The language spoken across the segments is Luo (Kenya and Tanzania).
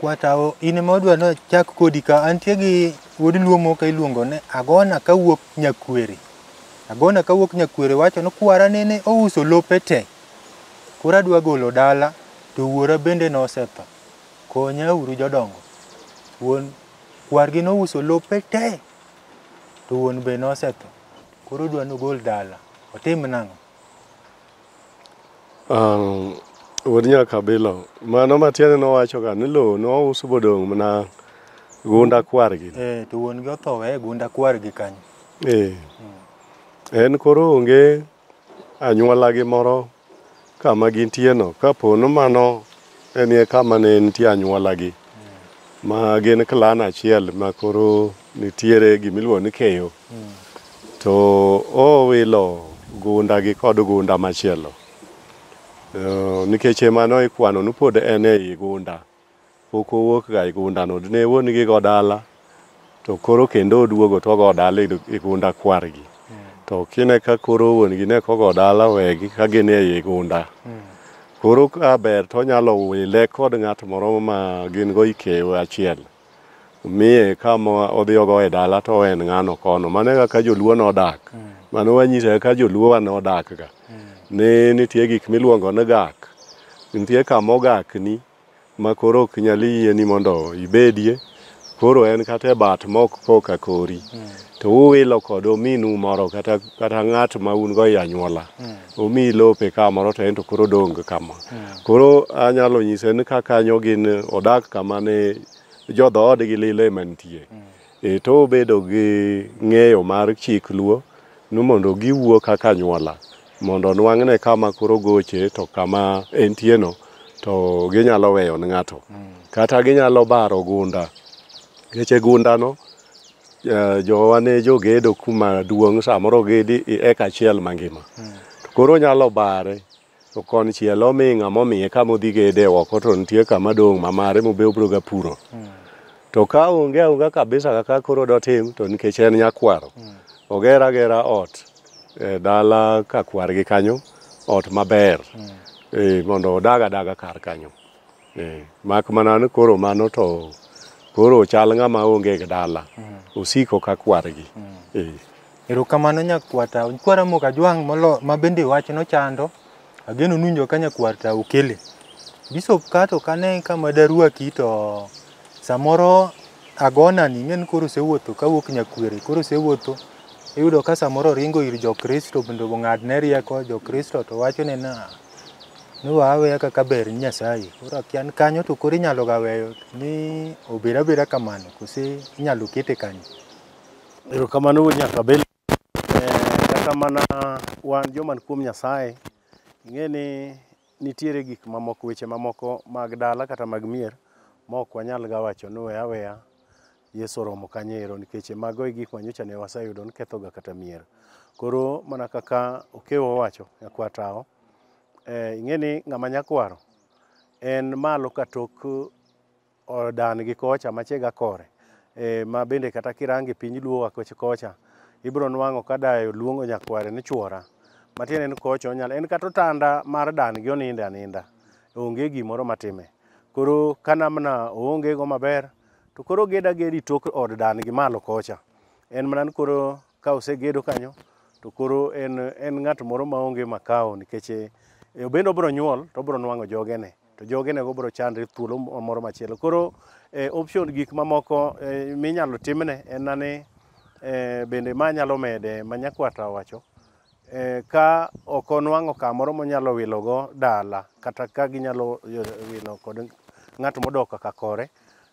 Kwatawo in ema wadwa ni wachak kodi ka. Antie gi wuod Luo moko iluongo ni Agona kawuok Nyakwere. Agona kawuok Nyakwere wacho ni kwara nene ouso lope te. Koro adwa golo dala to wuora bende nosetho. Konya uru jodongo. Wuon kwargi nouso lope te to wuon be nosetho. Koro odwa ni ogol dala. Otim nang'o? Um, wuod nyakabilo mano matiende nowachoga ni lowo nous bodong' mana gunda kwargi eh, to wuon gi otho weye gunda kwargi kanyo eh. mm. en koro onge anyuolagi moro kama gintieno kapo ni mano enie kama ne nitie anyuolagi mm. ma gin klan achiel ma koro Nitiere gima iluongo ni keyo. To owilo gunda gi kod gunda machielo. Eh, Nikech emano ikwano ni pod en ei gunda. Pok owuok ga e gundano. Dine wuon gi go dala to koro kendo oduogo to ogo dala e e gunda kwargi. To kine ka koro wuon gi ne ok ogo dala owegi ka gin ei gunda. Koro ka ber to onyalo wile kod ng'at moro ma gin go ikeyo achiel. miye kama odhiyogo e dala to en ng'ano kono mano e kaka joluo nodak mano wanyisa kaka joluo wa nodak ga ni nitie gik miluongo ni gak nitie kama ogakni ma koro ok nyal yieni mondo ibedie koro en kata e bat mok koka kori to uwilo kod ominu moro kata, kata ng'at ma un go e anyuola omiyi lope ka moro to ento koro dong kama. Hmm. Koro anyalo nyise ni ka kanyo gin odak kama ne jodhoodgi lile mantie. Hmm. E to obedo gi ng'eyo mar chik luo ni mondo giwuo kaka nyuola mondo nwang'ne kama koro goche to kama entieno to ginyalo weyo ni ng'ato. Hmm. Kata ginyalo baro gunda. Nikech e gundano Eh, jowa ne jogedo kuma duong' samoro ogedi i eka achiel mangima to koro onyalo bare to konchiel omi ng'ama omiye kama odhi gede oko to nitie kama dong' ma mare mobe obiro ga puro to ka onge aonga kabisa kaka koro dotim to nikech en nyakwaro oger agera ot e dala ka kwargi kanyo ot maber eh, mondo odag adaga kar kanyo Eh, mak mana ni koro mano to koro chal ng'ama onge gi dala mm. osiko ka kwargi mm. eh. erokamano nyakwata kwara moka jwang' molo ma bende wach nochando ageno nunjo ka nyakwarta okele bisop kato kane kama daruaki to samoro agona ni ng'en koro sewuotho kawuok nyakwere koro sewuotho iyudo ka samoro ringo ir jokristo bende ong'adne rieko jokristo to wachone na ni wa aweya kaka ber ni Nyasaye. Koro akia ni kanyo to koro inyalo ga weyo ni obed abeda kamano kose inyalo kete kanyo. Erokamano wuod Nyakabele. Eh, Kata mana wan joman kuom Nyasaye, ing'e ni nitiere gik mamoko, weche mamoko mag dala kata mag mier ma ok wanyal ga wacho ni we aweya Yesu oromo kanyo ero nikech e mago e gik ma nyocha ne waseyudo ni kethoga kata mier. Koro mana kaka Okewo owacho, nyakwar Tawo, eh, ing'e ni ng'ama nyakwaro en malo ka tok eh, dan gi kocha machega kore eh, ma bende kata kirange piny luo wa koch- kocha ibiro nwang'o ka dayo luongo nyakware ni chwora matiende ni kocha onyalo en kata otanda mar dan gi oninde aninda onge gimoro matime koro ka namna oonge go maber To koro ged agedi tok od dan gi malo kocha. En mana ni koro ka osegedo kanyo to koro en, en ng'at moro maonge makao nikech eh, obende obiro nyuol to obiro nwang'o jogene to jogenego biro chandre thuolo moro machielo. Koro eh, option gik mamoko eh, minyalo timne en na ni eh, bende ma nyalo mede ma nyakwata owacho eh, ka ok onwang'o kamoro monyalo wilogo dala kata ka ginyalo eh, wilo kod ng'at modok kaka kore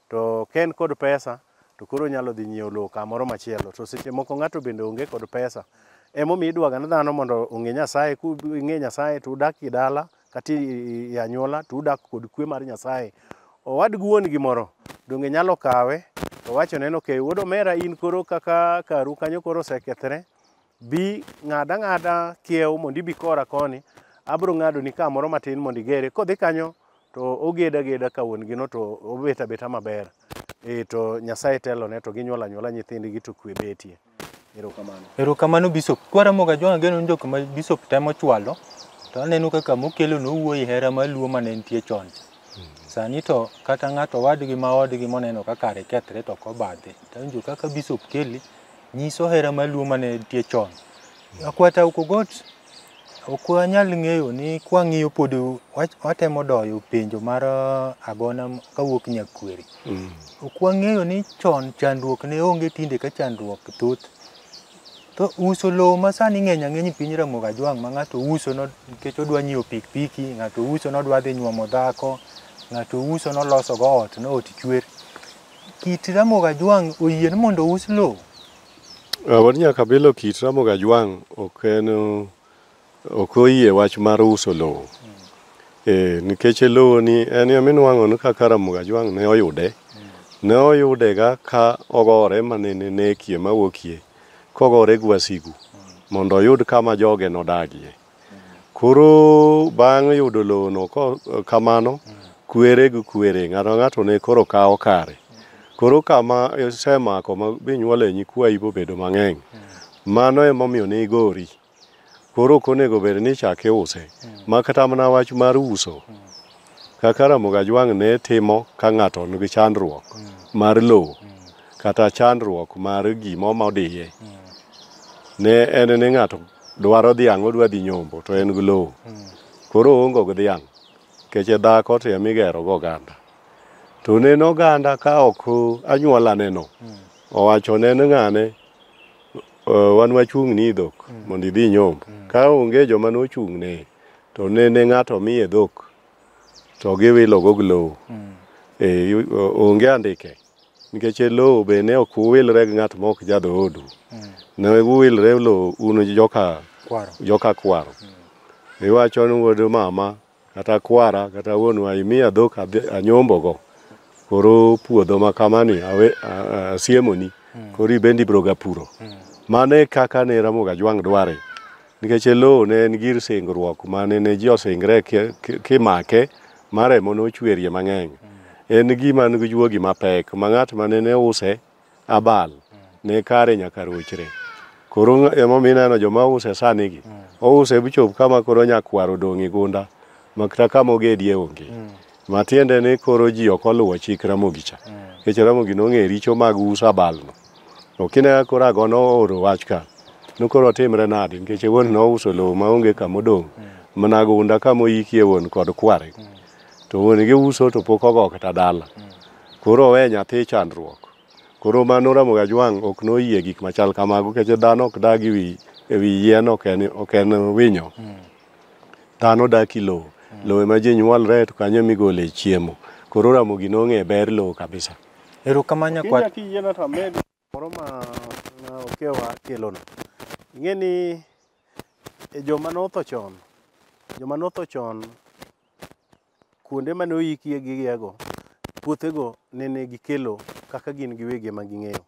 to ka en kod pesa to koro onyalo dhi nyiewo lowo kamoro machielo to seche moko ng'ato bende onge kod pesa emomiyo idwaga ne dhano mondo ong'e nyasaye king'e nyasaye to udak e dala kata i- i anyuola to udak kod kwe mar nyasaye owad gi wuon gi moro donge nyalo kawe to wachone ni okay wuod omera in koro kaka karu kanyo koro osekethre Bi ng'ad ang'ada kiew mondo ibi kora koni, abiro ng'adoni ka moro matin mondo igere. Kodhi kanyo to oged ageda ka wuon gino to obet abeta maber. Eh to Nyasaye telone to ginyuol anyuola nyithindgi to kwe betie. Erokamano. Erokamano Bishop. Kwaramoga John Ageno en jok ma Bishop temo chwalo to aneno kaka mokelo nowuoyi hera mar Luo mane nitie chon cha. Sani to kata ng'ato wadgi ma odgi moneno ka kare kethre to ok obadhe. Tawinjo kaka Bishop Kelly nyiso hera mar luo mane nitie chon. Akwata Ukogot ok wanyal ng'eyo ni kwang'iyo pod wach- watemo doyo penjo mar ah, agona m- kawuok Nyakweri. Ok wang'eyo ni chon chandruok ne onge tinde ka chandruok thoth. To uso lowo ma sani ng'eny ang'eny e piny Ramogi Ajwang' ma ng'ato uso no- nikech odwa nyiewo pikipiki, ng'ato uso nodwa dhi nyuomo dhako, ng'ato uso nolosogo ot, no ot chwer. Kit Ramogi Ajwang' oyie ni mondo ous lowo? Uh, wan nyaka bilo kit Ramogi Ajwang' ok en ok oyie wach mar uso lowo. Mm. Eh, nikech lowo ni en ya minwang'o ni kaka Ramogi Ajwang' ne oyude. Mm. Ne oyude ga ka ogore manene nekie mawuokie kogore gwasigu mm. mondo oyud kama joge nodagie. Koro bang' yudo lowono ko- kamano, kwere gi kwere, ng'ato ka ng'ato ne koro kawo kare. Koro kama isemako ma binyuole nyikwayi bobedo mang'eny, mano emomiyo ne igori. Koro ok onego bed ni ichak iuse, ma kata mana wach mar uso, kaka Ramogi Ajwang' ne timo ka ng'ato nigi chandruok mar lowo kata chandruok mar gima omodiye, ne en ni ng'ato dwaro dhiang' odwa dhi nyombo to en gi lowo koro oongo gi dhiang' keche dhako to ema igero go oganda to neno oganda ka ok anyuola neno owacho neno ng'ane "Eh, wan wachung' ni dhok mondo idhi nyombo ka onge joma nochung' ne to nene ng'ato miye dhok to giwilo go gi lowo Eh, yu- o- onge andike Nikech e lowo be ne ok uwilre gi ng'at ma ok jadhoodu, mm. ne uwilre e lowo un joka kwaro. Joka kwaro. Mm. Iwacho ni wuod mama kata kwara kata wuonwa imiya dhok anyombogo koro puodho ma kamani asiemoni mm. koro ibende ibroga puro. Mm. Mano e kaka ne Ramogi Ajwang' dware Nikech e lowo ne en gir singruok ma ne ne ji osingre kimake ma remo nochwerie mang'eny. En gima nigi juogi mapek ma ng'at ma ne use abal ne kare nyaka rochre. Koro emomiyo ineno joma use sanigi, ouse bichop kama koro nyakwar odong' e gunda ma kata kama ogedie onge. Matiende ni koro ji ok oluwo chik Ramogi cha, nikech Ramogi nong'eyo richo mag uso abalno. To kine koro ago nooro wach ka, nokoro timre nadi nikech wuon nouso lowo maonge kama odong' mana gunda kama oyikie wuon kod kware. To wuon gi uso to pok ogo kata dala. Koro owe nyathi chandruok. Koro ma noramo ga jwang' ok noyie gik machal kamago nikech dhano ok dag ewi ewi yien ok en ok en winyo. Dhano dak i lowo. Lowo ema ji nyuolre to kanyo emigole chiemo. Koro Ramogi nong'e ber lowo kabisa. Erokamano nyakwar. Kinya kiyiena to amed moro ma okewa kelono. Ing'e ni e joma notho chon, joma notho chon kuonde mane oyikie gigiego, puothego nene gikelo kaka gin giwegi ema ging'eyo.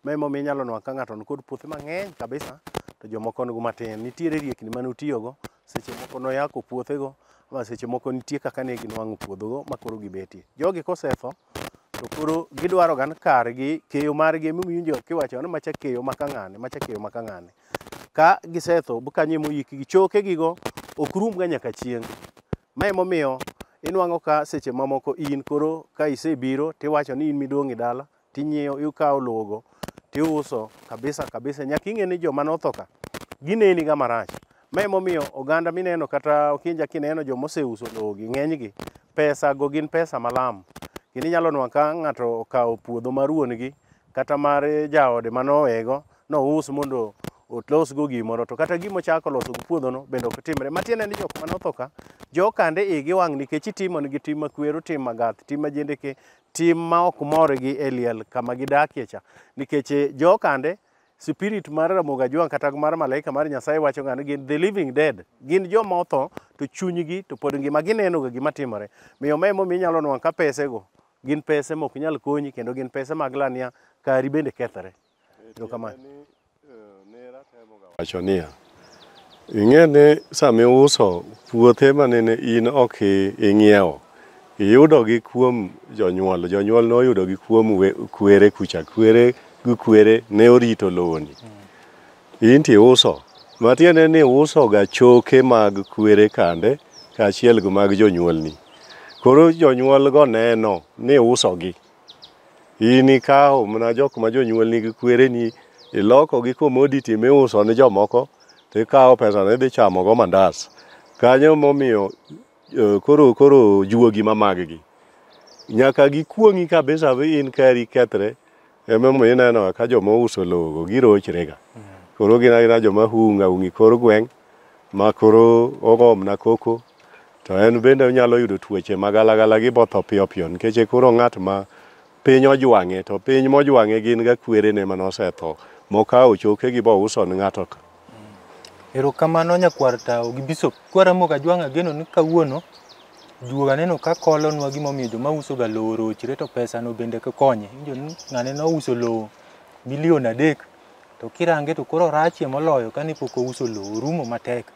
Ma emomiyo inyalo nwa ka ng'ato nikod puothe mang'eny kabisa to jomoko nigo matin. Nitiere riekni mane otiyogo, seche moko noyako puothego ma seche moko nitie kaka ne ginwang'o puodhogo ma koro gibetie. Jogi kosetho, to koro gidwaro gan kargi keyo margi ema iwinjo ka iwacho ni macha keyo ma ka ng'ane macha keyo ma ka ng'ane ka gisetho bu kanyo ema oyikgi chokegigo ok rumga nyaka chieng' ma emomiyo inwang'o ka seche mamoko in koro ka isebiro tiwacho ni in midong' e dala tinyiewo ikawo lowogo tiuso kabisa kabisa nyaka ing'e ni joma notho ka gineni ga marach Ma emomiyo oganda mineno kata okinja kineno joma oseuso lowogi ng'enygi pesago gin pesa malam. Kendo inyalo nwa ka ng'ato okawo puodho mar wuon-gi kata mar jaode manowego nous mondo olosgo gimoro to kata gima ochako loso gi puodhono bende ok timre. Matiende ni jok mane otho ka jokande igi wang' nikech itimonegi tim makwero, tim magath, tim majendeke, tim ma ok morgi e liel kama gidakie cha nikech jokande Spirit mar Ramogi Ajwang' kata mar malaika mar Nyasaye wacho ng'ani gin the living dead. Gin joma otho to chunygi to pod ngima gineno ga gima timore. Miyo ma emomiyo inyalo nwang' ka pesego gin pese mok nyal konyi kendo gin pese mag lania kari bende kethre. Erokamano. Wacho niya, Ing'e ni sama iuso puothe ma nene in ok ing'iewo, iyudogi kuom jonyuol. Jonyuol noyudogi kuom kwere kucha. Kwere gi kwere ne orito lowoni. In to iuso. Matiende ni iusoga choke mag kwere kande kaachiel gi mag jonyuolni. Koro jonyuolgo neno ni iusogi. In ikawo mana jok ma jonyuol nigi kwereni iloko gi commodity miuso ne jomoko to ikawo pesano idhi chamo go mandas. Kanyo momiyo eh, koro koro juogi ma maggi nyaka gikuong'i kabisa vi in kari kethre emomiyo ineno ka joma ouso lowogo girochrega koro gin agina joma hunga hungi kor gweng' ma koro ogomna koko To en bende onyalo yudo tuoche ma galagala gi botho piyo piyo nikech e koro ng'at ma piny ojwang'e to piny mojwang'e gin ga kwerene mane osetho mokawo chokegi bouso ne ng'ato ka. Erokamano nyakwar tawo gi bishop. Kwara moga jwang' ageno ni kawuono juoga aneno ka kolonwa gimomiyo joma usoga lowo orochre to pesano bende konye. Injo ni ng'ane nouso lowo milion adek to kirange to koro rachie moloyo kane pok ouso lowo orumo matek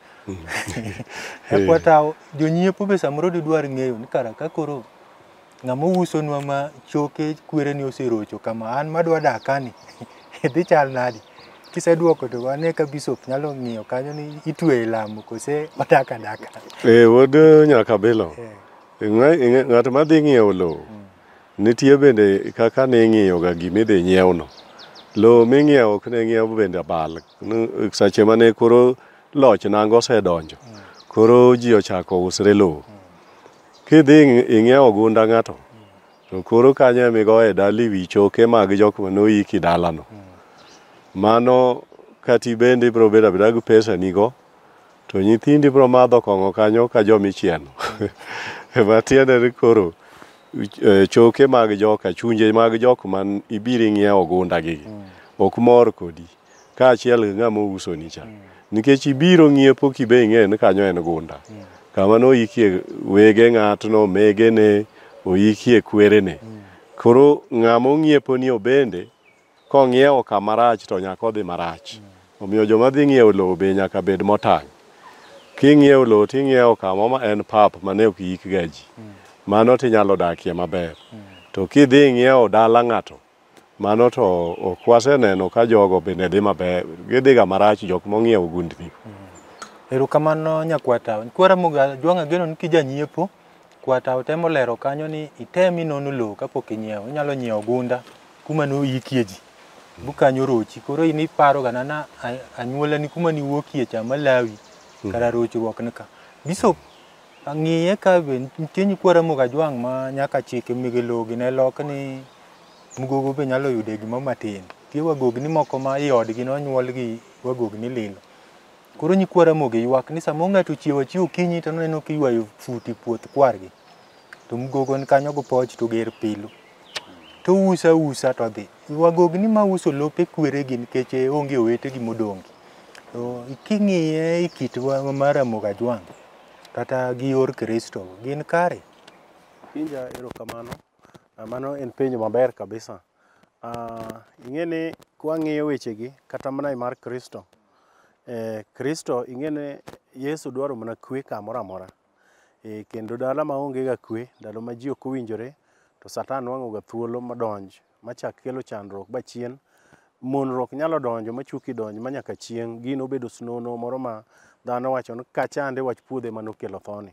ekwatawo jonyiepo be samoro didwar ng'eyo ni kara ka koro ng'ama ousonwa ma choke kwereni oserocho kama an madwa dak kani dhi chal nadi kisedwoko to ane ka bishop nyalo ng'iyo kanyo ni itweyo e lamo kose odak adaka Eh, wuod Nyakabilo, Eh. ng'a- ng'a- ng'at madhi ng'iewo lowo Nitie bende kaka ning'iyoga gima idhi nyiewno. Lowo ming'iewo ok ne ng'iew bende abal. N- Seche mane koro loch nanga osedonjo, koro ji ochako usre lowo. Kidhi ing- ing'iewo gunda ng'ato, to koro kanyo ema igoye dala iwi choke mag jok mane oiki dalano. Mano kati bende ibiro bedo abeda gi pesa nigo, To nyithindi biro madho kong'o kanyo ka joma ichieno. Ma tiende ni koro eh, choke mag joka, chunje mag jok man ibiro ing'iewo ogunda gi ok mor kodi kaachiel gi ng'ama ousoni cha. Nikech ibiro ng'iepo kibe ing'eyo ni kanyo en gunda. Kama noikie wege ng'atno, megene, oikie kwerene. Koro ng'ama ong'ieponi obende Kong'iewo kama rach to nyaka odhi marach. Omiyo joma dhi ng'iewo lowo be nyaka bed motang'. King'iewo lowo to ing'iewo kama ma en pap mane ok iikga ji. Mano to inyalo dakie maber. To kidhi ing'iewo dala ng'ato, mano to ok waseneno ka jogo bende dhi maber. Gidhiga marach jok mong'iewo gundni. Erokamano nyakwar Tawe. Kwara Muga, Jwang' ageno ni kijanyiepo. Kwata otemo lero kanyo ni item inono lowo kapok inyiewo. Inyalo nyiewo gunda kuma noyikie ji. Bukanyo rochi. Koro in iparo ga nana anyuola ni kuma niwuokie cha Malawi hmm. kara rochruok ni ka. Bishop ang'iye ka be nitie nyikwa Ramogi Ajwang' ma nyaka chike mege lowo gi ne lok ni mgogo be nyalo yude gima matin. Tie wagogni moko ma i odgi nonyuol gi wagogni lilo. Koro nyikwa Ramogi ywak ni sama ng'ato ochiewo achiewo okinyi to noneno kiywayo fut e puoth kwargi. To mgogo ni kanyo gopoch to ger pilu. To usa usa to dhi. Wagog ni ma uso lope kweregi nikech e, onge owetegi modongi. To king'iye e kit wa- mar Ramogi Ajwang' kata gi yor Kristo gin kare. Penja erokamano. Ah, Mano en penjo maber kabisa. Ah, Ing'e ni kwang'iyo wechegi kata mana e mar Kristo, eh, Kristo ing'ene Yesu dwaro mana kwe kamoro amora eh, kendo dala ma onge ga kwe ndalo ma ji ok owinjore to Satan nwang'o ga thuolo madonj machak kelo chandruok ba chien monruok nyalo donjo machuki donj ma nyaka chieng' gino obedo snono moro ma dhano wacho ni kachande wach puodhe manokelo thoni